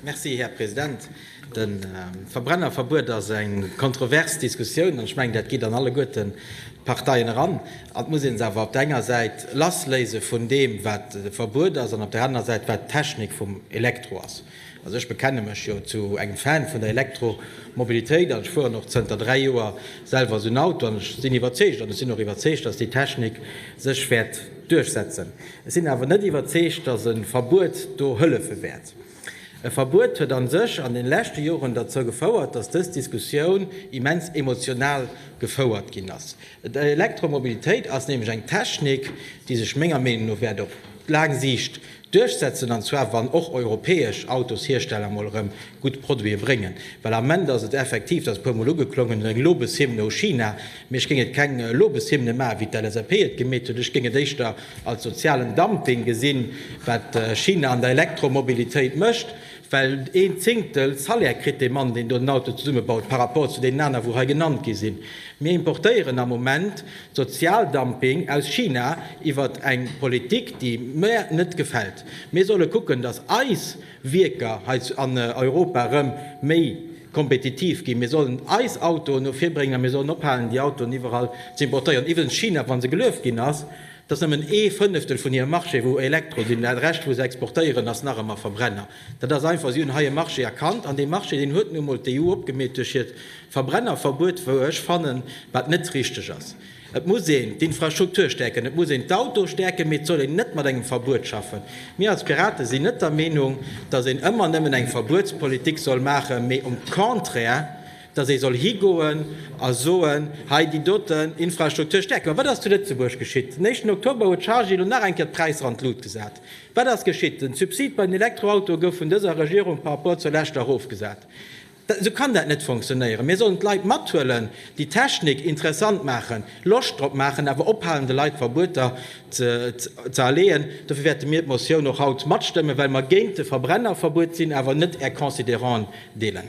Merci, Här President. De Verbrennerverbuet ass eng kontrovers Diskussioun, an ech mengen, dat geet an alleguerten d'Parteien eran. Et muss ee se awer op der enger Säit lassléise vun deem, wat de Verbuet ass, an op der anerer Säit, wat d'Technik vum Elektro ass. Also ech bekenne mech jo zu engem Fan vun der Elektromobilitéit, an ech fueren och zënter dräi Joer selwer esou en Auto, an ech sinn iwwerzeegt, an ech sinn och iwwerzeegt, datt déi Technik sech wäert duerchsetzen. Ech sinn awer net iwwerzeegt, datt e Verbuet do hëllefe wäert. E Verbuet huet a sech an den leschte Joren derzou gefouert, dass dës Diskussioun immens emotional gefouert ginn ass. D'Elektromobilitéit ass nämlech eng Technik, déi sech menger Meenung no wäert op laang Siicht duerchsetzen, an zwar wann och europäesch Autoshiersteller mol erëm gutt Produite bréngen. Well am Ament ass et effektiv, dat ass e puermol ugeklongen, eng Lobeshymne u China, Mee ech géing et keng Lobeshymne maachen, wéi d'LSAP et gemeet huet. Ech géing et éischter als sozialen Dumping gesinn, wat China an der Elektromobilitéit mécht, well een Zéngtel Salaire kritt dee Mann, deen do den Auto zesummebaut, par rapport zu deenen aner, wou hei genannt gi sinn. Mir importéieren am Moment Sozialdumping aus China iwwert eng Politik, déi mär net gefält. Mir solle kucken, dass eis. Wierker hei an Europa erëm méi kompetitiv ginn. Mir sollen eis Autoen no vir bréngen a mir sollen ophalen, déi Autoen iwwerall ze importéieren. Iwwregens, China, wa se gelueft ginn ass, dat ass nëmmen ee Fënneftel vun hirem Marché, wou Elektro sinn. Dat Rescht, wou se exportéieren, ass nach ëmmer Verbrenner. Dat ass einfach, si hunn hei e Marché erkannt an dee Marché, deen huet nu emol d'EU opgemeet duerch hiert Verbrennerverbuet, wou ech fannen, wat net richtig ass. Et muss een d'Infrastruktur stäerken, et muss een d'Autoe stäerken, mee et soll een net mat engem Verbuet schaffen. Mir als Piraten sinn net der Meenung, datt een ëmmer nëmmen eng Verbuetspolitik soll maachen, mee um Contraire, datt ee soll higoen a soen, hei déi doten Infrastruktur stäerke mer. Wat ass zu Lëtzebuerg geschitt? Den éischten Oktober huet d'Chargy elo nach eng Kéier d'Präisser an d'Lut gesat. Wat ass geschitt? Den Subsid bei den Elektroautoe gouf vun dëser Regierung par rapport zur leschter erofgesat. Esou kann dat net fonctionnéieren. Mir sollen d'Leit mathuelen, déi Technik interessant maachen, Loscht drop maachen, awer ophalen, de Leit Verbueter ze aleeën. Dofir wäerte mir d'Motioun och haut matstëmmen, well mer géint de Verbrennerverbuet sinn, awer net Är Consideranten deelen.